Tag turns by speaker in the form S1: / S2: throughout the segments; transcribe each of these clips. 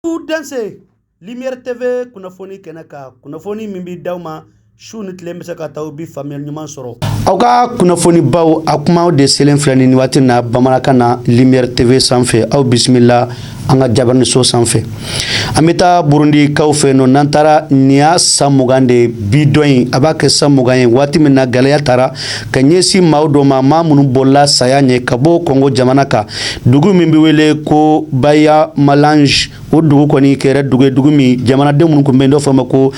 S1: aw dansɛ lumière tv kunnafoni kɛnɛ kan kunnafoni min bɛ d'aw ma su ni tile bɛ se ka t'aw bɛ faamuyali ɲuman sɔrɔ aw ka kunnafonibaw a kumaw de selen filɛ nin waati na bamanankan na lumière tv sanfɛ aw bisimila an ka jabaraninso sanfɛ an bɛ taa burundikaw fɛ nɔ n'an taara nin y'a san mugan de ye bi don in a b'a kɛ san mugan ye waati min na gɛlɛya taara ka ɲɛsin maaw dɔ ma maa minnu bolila saya ɲɛ ka bɔ kɔngo jamana kan dugu min bɛ wele ko banyamulenge o dugu kɔni kɛra dugu ye dugu min jamanaden minnu tun bɛ yen dɔ fɔ ma ko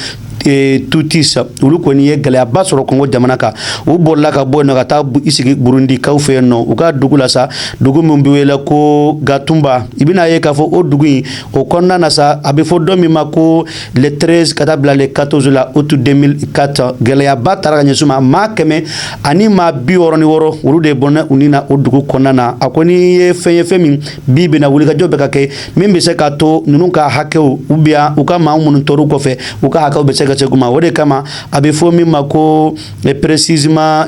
S1: e, tutsi olu kɔni ye gɛlɛyaba sɔrɔ kɔngo jamana kan u bolila ka bɔ yen nɔ ka taa i sigi burundikaw fɛ yen nɔ u ka dugu la sa dugu min bɛ wele ko gatumba i bɛna ye k'a fɔ o dugu in o kɔnɔna na sa a bɛ fɔ dɔ min ma ko le 13 ka taa bila le 14 la août 2004 gɛlɛyaba taara ka ɲɛsin ma maa kɛmɛ ani maa bi wɔɔrɔ ni wɔɔrɔ olu de bɔnɛna u ni na o dugu kɔnɔna na a kɔni ye fɛn ye fɛn min bi bɛna wulikajɔ bɛ ka kɛ min bɛ se k'a to ninnu ka hakɛw u biya u ka maa minnu tor'u kɔfɛ u ka hakɛw bɛ se ka segin u ma o de kama a bɛ fɔ min ma ko précisément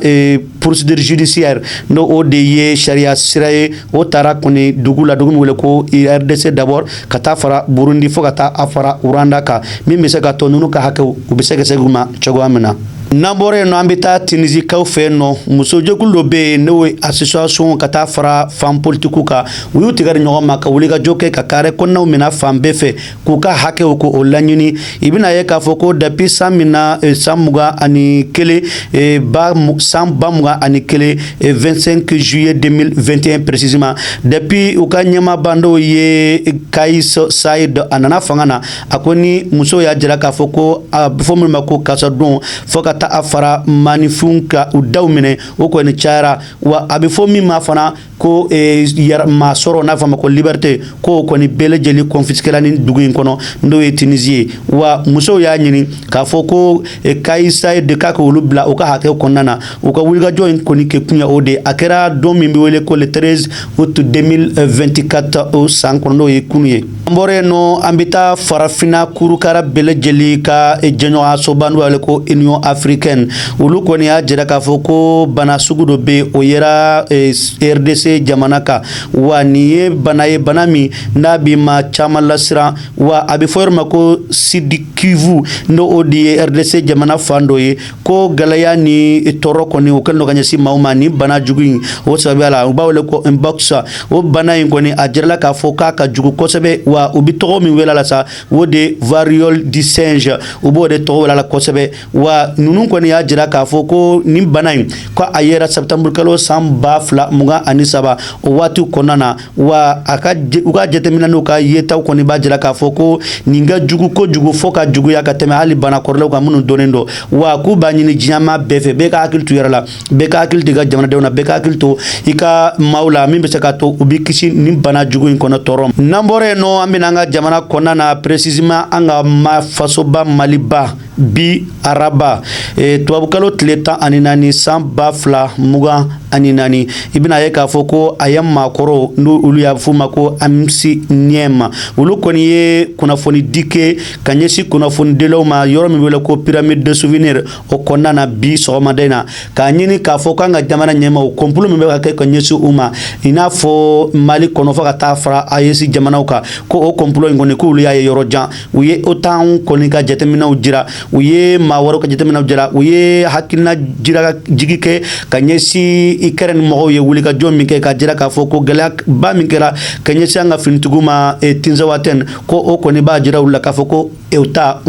S1: procédure judiciaire n' o de ye sariya sira ye o taara kɔni dugu la dugu min wele ko rdc d'abord ka taa fara burundi fo ka taa a fara rwanda kan min bɛ se k'a to ninnu ka hakɛ u bɛ se ka segin u ma cogoya min na n'an bɔra yen nɔ an bɛ taa tunisikaw fɛ yen nɔ musojɛkulu dɔ bɛ yen n'o ye association ka taa fara femme politikiw kan u y'u tɛgɛ di ɲɔgɔn ma ka wulikajɔ kɛ ka carré kɔnɔnaw minɛ fan bɛɛ fɛ k'u ka hakɛw ko o laɲini i bɛna ye k'a fɔ ko depuis san min na eh, san mugan ani kelen eh, ba san ba mugan ani kelen 25 eh, juillet 2021 précisément depuis u ka ɲɛmaaba n'o ye kaïs saïed a nana fanga na a kɔni musow y'a jira k'a fɔ ko a bɛ fɔ minnu ma ko kaso don fo ka taa a fara maaninfinw ka u daw minɛ o kɔni cayara wa a bɛ fɔ min ma fana ko yɛrɛmasɔrɔ n'a fɔ ma ko liberté k'o kɔni bɛɛ lajɛlen kɔnfisikela ni dugu in kɔnɔ n'o ye tunisi ye wa musow y'a ɲini k'a fɔ ko eh, kaïs saïed k'a ka olu bila u ka hakɛw kɔnɔna na u ka wulikajɔ in kɔni kɛ kun ye o de a kɛra don min bɛ wele ko le 13 août 2024 o san kɔnɔ n'o ye kunu ye an bɔra yen nɔ an bɛ taa farafinna kurukara bɛɛ lajɛlen ka jɛɲɔgɔnyasoba n'u b'a wele ko union africaine olu kɔni y'a jira k'a fɔ ko bana sugu dɔ bɛ yen o yera eh, rdc jamana kan wa nin ye bana ye bana min n'a bɛ maa caman lasiran wa a bɛ fɔ yɔrɔ ma ko sud-kivu n'o o de ye rdc jamana fan dɔ ye ko gɛlɛya ni tɔɔrɔ kɔni o kɛlen don ka ɲɛsin maaw ma ni bana jugu in o sababuya la u b'a wele ko mpox o bana in kɔni a jirala k'a fɔ k'a ka jugu kosɛbɛ wa u bɛ tɔgɔ min wele a la sa o de variole du singe u b'o de tɔgɔ wele a la kosɛbɛ wa ninnu kɔni y'a jira k'a fɔ ko nin bana in ko a yera septembre kalo san ba fila mugan ani saba o waati kɔnɔna na wa a ka u ka jateminɛ n'u ka yetaw kɔni b'a jira k'a fɔ ko nin ka jugu kojugu fɔ ka juguya ka tɛmɛ hali bana kɔrɔlenw kan minnu dɔnnen don wa k'u b'a ɲini diɲɛ maa bɛɛ fɛ bɛɛ ka hakili to i yɛrɛ la bɛɛ ka hakili to i ka jamanadenw na bɛɛ ka hakili to i ka maaw la min bɛ se ka to u bɛ kisi nin bana jugu in kɔnɔ tɔɔrɔ n'an bɔra yen nɔ an bɛ na an ka jamana kɔnɔna na précisément an ka ma fasoba maliba bi araba e, tubabukalo tile tan ani naani san ba fila mugan ani naani i bɛna ye k'a fɔ ko AEEM maakɔrɔw n'u olu y'a f'u ma ko AMSUNEEM olu kɔni ye kunnafonidi kɛ ka ɲɛsin kunnafonidilaw ma yɔrɔ min wele ko pyramide de souvenir o kɔnɔna na bi sɔgɔmada in na k'a ɲini k'a fɔ k'an ka jamana ɲɛmaaw kɔnpulo min bɛ ka kɛ ka ɲɛsin u ma i n'a fɔ mali kɔnɔ fɔ ka taa fara ayesi jamanaw kan ko o kɔnpulo in kɔni k'olu y'a ye yɔrɔ jan u ye otan kɔni ka jateminɛw jira u ye maa wɛrɛw ka jateminɛw jira u ye hakilina jira jigi kɛ ka ɲɛsin ikɛrɛni mɔgɔw ye wulikajɔ min kɛ k'a jira k'a fɔ ko gɛlɛyaba min kɛra ka ɲɛsin an ka finitigiw ma e, tinzawatɛn ko o kɔni b'a jira u la k'a fɔ ko e, otan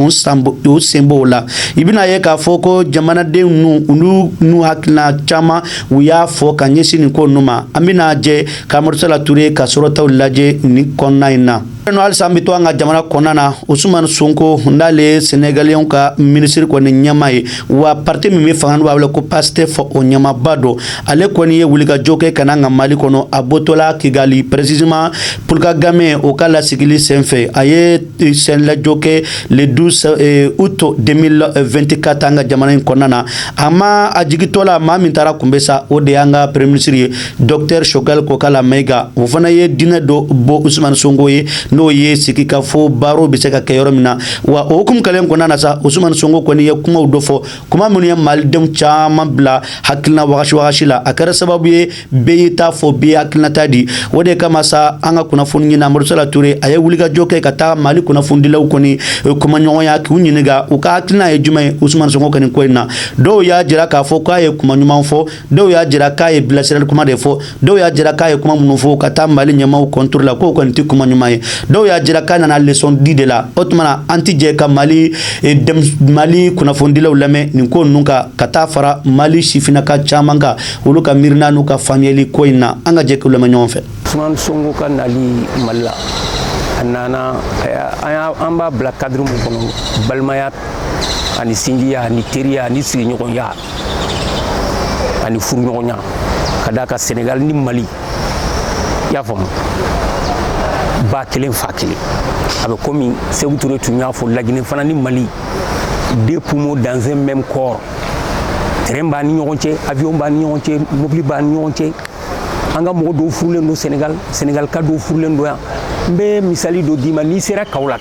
S1: sen b'o la i bɛna ye k'a fɔ ko jamanadenw n'u olu n'u hakilina caman u y'a fɔ ka ɲɛsin nin ko ninnu ma an bɛna jɛ k'Amadou Sala Toure ka sɔrɔtaw lajɛ nin kɔnɔna in na n'o halisa an bɛ to an ka jamana kɔnɔna na usumani sonko n'ale ye sɛnɛgaliyɛnw ka minisiri kɔni ɲɛmaa ye wa pariti min bɛ fanga n'u b'a wele ko pastef o ɲɛmaaba don ale kɔni ye wulikajɔ kɛ ka na an ka mali kɔnɔ a bɔtɔla kigali précisément Paul Kagame o ka lasigili senfɛ a ye senlajɔ kɛ le 12 eh, août 2024 an ka jamana in kɔnɔna na a ma a jigitɔla maa min taara a kunbɛn sa o de y'an ka premier minisiri ye Dɔkutɛri Choguel Kokalla Maïga o fana ye dîner dɔ bɔ usmani sonko ye n'o ye sigikafɔ barow bɛ se ka kɛ yɔrɔ min na wa o hukumu kɛlen kɔnɔna na sa usmani sonko kɔni ye kumaw dɔ fɔ kuma minnu ye malidenw caman bila hakilina wagasi wagasi la a kɛra sababu ye bɛɛ y'i ta fɔ bɛɛ y'i hakilinata di o de kama sa an ka kunnafoniɲinina Amadou Sala Toure a ye wulikajɔ kɛ ka taa Mali kunnafonidilaw kɔni kumaɲɔgɔnya k'u ɲininka u ka hakilina ye jumɛn ye Ousmane Sonko ka nin ko in na dɔw y'a jira k'a fɔ k'a ye kuma ɲuman fɔ dɔw y'a jira k'a ye bilasirali kuma de fɔ dɔw y'a jira k'a ye kuma minnu fɔ ka taa mali ɲɛmaaw contre la k'o kɔni tɛ kuma ɲuman ye dɔw y'a jira k'a nana lesɔn di de la o tuma na an tɛ jɛ ka mali e, mali kunnafonidilaw lamɛn nin ko ninnu kan ka taa fara mali sifinnaka caman kan olu ka miirina n'u ka faamuyali ko in na an ka jɛ k'u lamɛn ɲɔgɔn fɛ. usumani sonko
S2: ka nali mali la a nana an b'a bila kadiri mun kɔnɔ balimaya ani sinjiya ani teriya ani sigiɲɔgɔnya ani furuɲɔgɔnya ka d'a kan senegal ni mali i y'a faamu ba kelen fa kelen a bɛ komi Sékou Touré tun y'a fɔ lagine fana ni mali deux poumons dans un même corps train b'a ni ɲɔgɔn cɛ avion b'a ni ɲɔgɔn cɛ mobili b'a ni ɲɔgɔn cɛ an ka mɔgɔ dɔw furulen don senegal senegal ka dɔw furulen don yan n bɛ misali dɔ d'i ma n'i sera Kaolack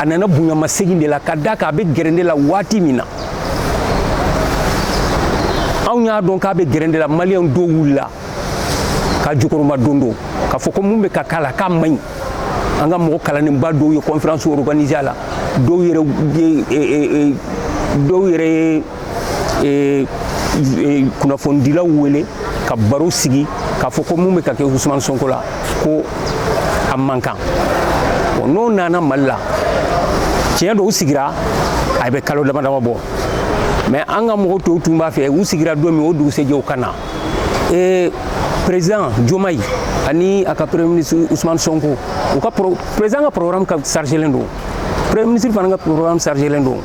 S2: a nana bonyamasegin de la ka d'a kan a bɛ gɛrɛntɛ la waati min na anw y'a dɔn k'a bɛ gɛrɛntɛ la maliyɛnw dɔw wulila k'a jukɔrɔmadondon k'a fɔ ko mun bɛ ka k'a la k'a man ɲi an ka mɔgɔ kalannenba dɔw ye conférence organisé a la dɔw yɛrɛ ye dɔw yɛrɛ ye e, e, kunnafonidilaw wele ka baro sigi k'a fɔ ko mun bɛ ka kɛ Ousmane Sonko la ko a man kan bon n'o nana mali la tiɲɛ don u sigira a bɛ kalo dama dama bɔ mais an ka mɔgɔ tɔw tun b'a fɛ u sigira don min o dugusɛjɛ u ka na e, président Diomaye ani a ka premier ministre Ousmane Sonko u ka président ka programme ka chargelen don premier ministre fana ka programme chargelen don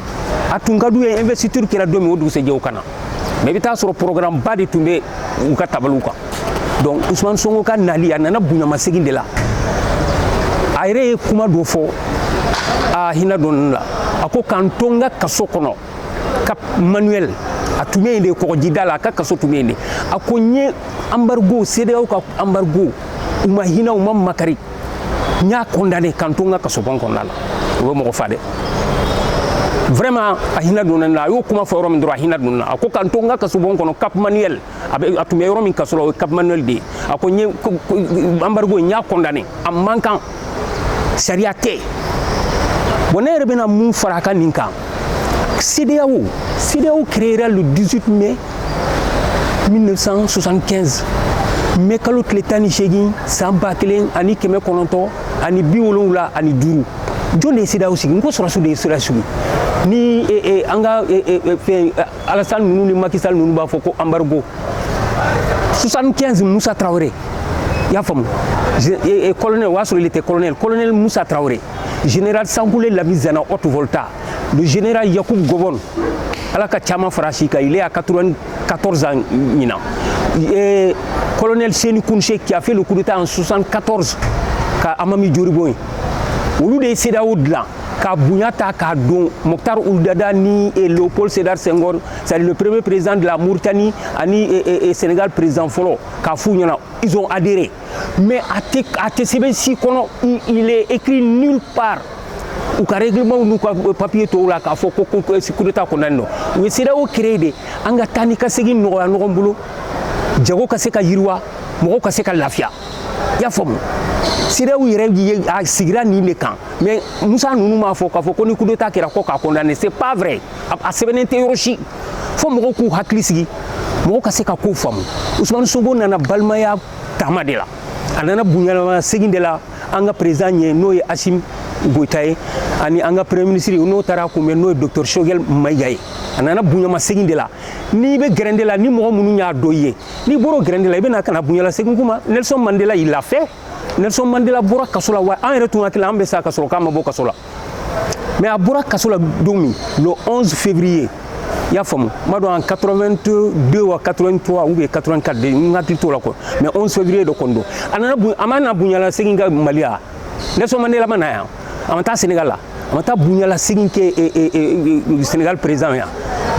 S2: a tun ka d'u ye investiture kɛra don min o dugusɛjɛ u ka na mais i bɛ taa sɔrɔ programme ba de tun bɛ u ka tabaliw kan donc Ousmane Sonko ka nali a nana bonyamasegin de la a yɛrɛ ye kuma dɔ fɔ a hinɛ donna ne la a ko ka n to n ka kaso kɔnɔ Cap Manuel a tun bɛ yen de kɔgɔjida la a ka kaso tun bɛ yen de a ko n ye embargo CEDEAO ka embargo u ma hinɛ u ma makari n y'a condamné ka n to n ka kasobon kɔnɔna la o bɛ mɔgɔ fa dɛ vraiment a hinɛ donna ne la a y'o kuma fɔ yɔrɔ min dɔrɔn a hinɛ donna a ko ka n to n ka kasobon kɔnɔ Cap Manuel a bɛ a tun bɛ yɔrɔ min kaso la o ye Cap Manuel de ye a ko n ye embargo n y'a condamné a man kan sariya tɛ bon ne yɛrɛ bɛna mun fara a ka nin kan CEDEAO CEDEAO créera le 18 mai 1975 mɛ kalo tile tan ni seegin san ba kelen ani kɛmɛ kɔnɔntɔn ani bi wolonwula ani duuru jɔn de ye CEDEAO sigi n ko sɔrɔdasiw de ye CEDEAO sigi ni e, e, an ka e, fɛn Alassane ninnu ni Macky Sall ninnu b'a fɔ ko embargo 75 musa tarawele i y'a faamu colonel o y'a sɔrɔ il était colonel colonel musa tarawele général Sangoulé Lamizana Haute-Volta Le général Yakubu Gowon, ala ka caman fara si kan il est à 94 ans ɲinan euh, colonel Seyni Kountché qui a fait le coup d'état en 74 ka Hamani Diori bɔ yen olu de ye CEDEAO dilan ka bonya ta k'a don Mokhtar Ould Daddah ni eh, Léopold Sédar Senghor c'est le premier président de la Mauritanie ani eh, eh, Sénégal président fɔlɔ k'a f'u ɲɛna ils ont adhéré mais a tɛ a tɛ sɛbɛn si kɔnɔ il est écrit nulle part u ka règlement n'u ka papier tɔw la k'a fɔ ko ko coup d'état kɔnnen don u ye CEDEAO créer de an ka taa ni ka segin nɔgɔya ɲɔgɔn bolo jago ka se ka yiriwa mɔgɔw ka se ka lafiya i y'a faamu CEDEAO yɛrɛ a sigira nin de kan mais Musa ninnu m'a fɔ k'a fɔ ko ni coup d'état kɛra ko k'a condamner c'est pas vrai a sɛbɛnnen tɛ yɔrɔ si fo mɔgɔw k'u hakili sigi mɔgɔw ka se ka kow faamu usumani sonko nana balimaya taama de la a nana bonyamasegin de la an ka président ye n'o ye asimi goyita ye ani an ka premier ministre n'o taara a kunbɛn n'o ye docteur shogel mayiga ye a nana bonyamasegin de la n'i bɛ gɛrɛntɛ la ni mɔgɔ minnu y'a dɔn i ye n'i bɔr'o gɛrɛntɛ la i bɛ na ka na bonyalasegin k'u ma nelson mandela il l'a fait nelson mandela bɔra kaso la wa an yɛrɛ tun hakili la an bɛ sa ka sɔrɔ k'a ma bɔ kaso la mais a bɔra kaso la don min le 11 février i y'a faamu n m'a dɔn en 82 ou 83 ou bien 84 de n hakili t'o la quoi mais 11 février de kɔni don a nana a ma na bonyalasegin kɛ mali ya nelson mandela ma na yan a ma taa sénégal la a ma taa bonyalasegin kɛ e, e, e, sénégal président ya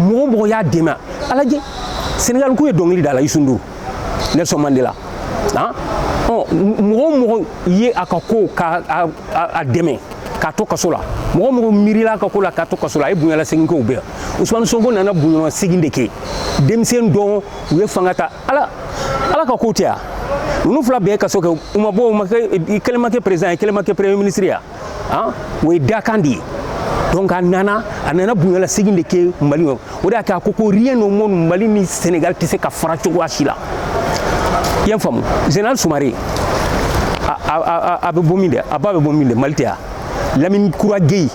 S2: mɔgɔ mɔgɔ y'a dɛmɛ a lajɛ sénégalkaw ye dɔnkili da a la youssou ndour nelson mandela han mɔgɔ mɔgɔ ye a ka ko ka a dɛmɛ k'a to kaso la mɔgɔ mɔgɔ miirila a ka ko la k'a to kaso la a ye bonyalasegin kɛ o bɛɛ usumani sonko nana bonyalasegin de kɛ denmisɛn don u ye fanga ta ala ka ko tɛ ya ninnu fila bɛɛ ye kaso kɛ u ma bɔ yen kelen ma kɛ président ye kelen ma kɛ premier ministre ya o ye dakan de ye donc a nana a nana bonyalasegin de kɛ mali o de y'a kɛ a ko ko rien au monde mali ni senegal tɛ se ka fara cogoya si la i y'a faamu général sumare a bɛ bɔ min de a ba bɛ bɔ min de mali tɛ ya lamini kura geyi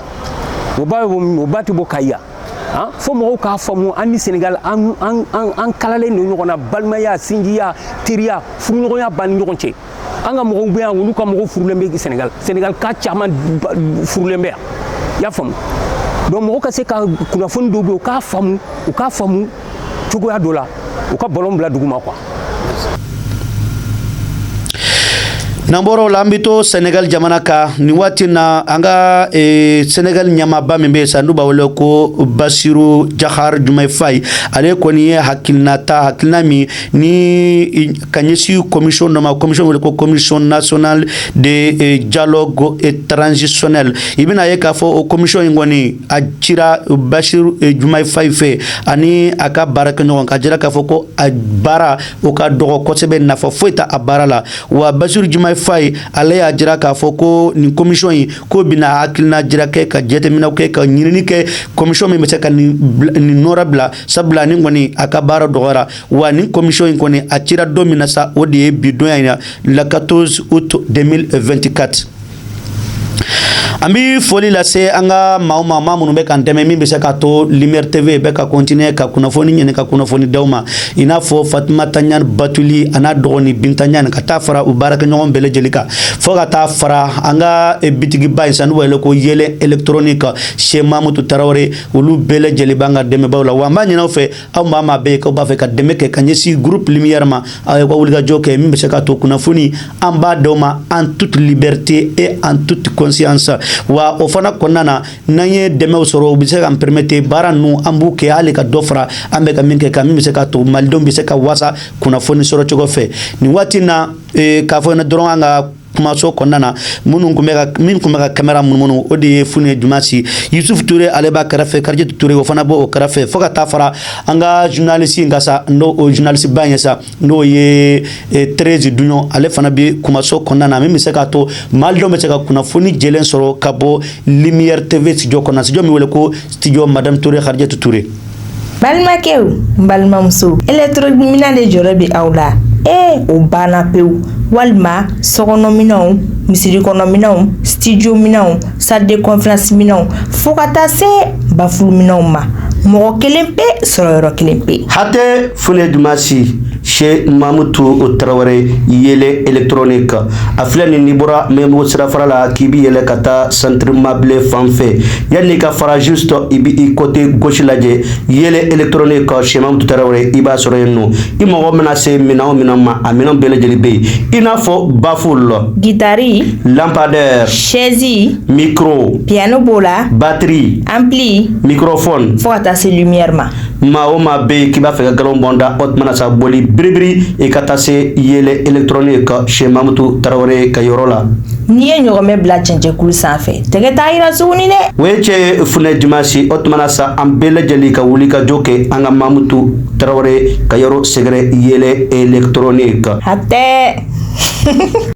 S2: o ba bɛ bɔ min o ba tɛ bɔ kayi ya han fo mɔgɔw k'a faamu an ni senegal an kalalen don ɲɔgɔn na balimaya sinjiya teriya furuɲɔgɔnya b'an ni ɲɔgɔn cɛ an ka mɔgɔw bɛ yan olu ka mɔgɔw furulen bɛ sɛnɛgal sɛnɛgal ka caman furulen bɛ yan i y'a faamu donc mɔgɔw ka se ka kunnafoni dɔw bɛ yen u k'a faamu u k'a faamu cogoya dɔ la u ka balɔn bila duguma quoi
S1: n'an bɔr'o la an bɛ to senegal jamana kan nin waati na an ka eh, senegal ɲɛmaaba min bɛ yen san n'u b'a wele ko basiru jahar jumayi fayi ale kɔni ye hakilina ta hakilina min ni ka ɲɛsin commission dɔ ma commission wele ko commission nationale de eh, dialogue transitionnel i bɛna a ye k'a fɔ o commission in kɔni a cira basiru eh, jumayi fayi fɛ ani a ka baarakɛɲɔgɔn k'a jira k'a fɔ ko a baara o ka dɔgɔ kosɛbɛ nafa foyi t'a baara la wa basiru jumayi fayi ale y'a jira k'a fɔ ko nin commission in k'o bɛna hakilina jira kɛ ka jateminɛw kɛ ka ɲinini kɛ commission min bɛ se ka nin nɔrɔbila sabula ni kɔni a ka baara dɔgɔyara wa ni kɔmisɔn in kɔni a cira don min na sa o de ye bi donya in na le 14 août 2024 an bi foli lase an ka maaw ma maa minnu bɛ k'an dɛmɛ min bɛ se k'a to lumière tv bɛ ka continuer ka kunnafoni ɲini ka kunnafoni d'aw ma i n'a fɔ fatimata ɲan batuli a n'a dɔgɔnin binta ɲan ka taa fara u baarakɛɲɔgɔn bɛɛ lajɛlen kan fo ka taa fara an ka eh, bitigiba in sa n'u b'a wele ko yɛlɛ électronique chez mamutu tarawele olu bɛɛ lajɛlen b'an ka dɛmɛbaaw la wa an b'a ɲin'aw fɛ aw maa maa bɛ yen k'aw b'a fɛ ka dɛmɛ kɛ ka ɲɛsin groupe lumière ma aw ye ka wulikajɔ kɛ min bɛ se k'a to kunnafoni an b'a d'aw ma en toute liberté et en toute conscience wa o fana kɔnɔna na n'an ye dɛmɛw sɔrɔ u bɛ se k'an permettre baara ninnu an b'u kɛ hali ka dɔ fara an bɛ ka min kɛ kan min bɛ se k'a to malidenw bɛ se ka wasa kunnafoni sɔrɔ cogo fɛ nin waati in na k'a fɔ ɲɛna dɔrɔn an ka kumaso kɔnɔna na minnu tun bɛ ka min tun bɛ ka kamera munumunu o de ye funɛ jumasi yusuf ture ale b'a kɛrɛfɛ karijatu ture o fana b'o o kɛrɛfɛ fo ka taa fara an ka journaliste in kan sa n'o o journaliste ba ye sa n'o ye Thérèse Duɲɔn ale fana bɛ kumaso kɔnɔna na min bɛ se k'a to malidenw bɛ se ka kunnafoni jɛlen sɔrɔ ka bɔ Lumière TV studio kɔnɔna studio min wele ko studio madame Ture Karijatu Ture
S3: balimakɛw ni balimamusow électro minɛn de jɔrɔ bɛ aw la ee o banna pewu walima sokɔnɔminɛnw misirikɔnɔminɛnw studio minɛnw salle de conférence minɛnw fo ka taa se bafuluminɛnw ma mɔgɔ kelen pe sɔrɔyɔrɔ kelen pe hatɛ funɛ
S1: jumasi chez mamutu tarawele yɛlɛ électronique a filɛ nin n'i bɔra mɛbo sirafara la k'i bɛ yɛlɛn ka taa centre mabile fan fɛ yann'i ka fara juste i bɛ i côté gauche lajɛ yɛlɛ électronique chez mamutu tarawele i b'a sɔrɔ yen nɔ i mago mana se minɛn min ma a minɛn bɛɛ lajɛlen bɛ yen i n'a fɔ bafulu
S3: gitari
S1: lampadaire sɛzi
S3: micro
S1: piano b'o la
S3: batiri
S1: ampli
S3: microphone fo ka
S1: taa se
S3: lumière ma maa o maa bɛ yen k'i b'a fɛ ka
S1: nkalon bɔ n da o tuma na sa boli biribiri i ka taa se yɛlɛ électronique chez mamutu tarawele ka yɔrɔ la n'i ye ɲɔgɔmɛ
S3: bila cɛncɛnkulu sanfɛ tɛgɛ t'a yira suguni dɛ o ye cɛ
S1: funɛ jumasi o tuma na sa an bɛɛ lajɛlen ka wulikajɔ kɛ an ka mamutu tarawele ka yɔrɔ sɛgɛrɛ yɛlɛ
S3: électronique hatɛ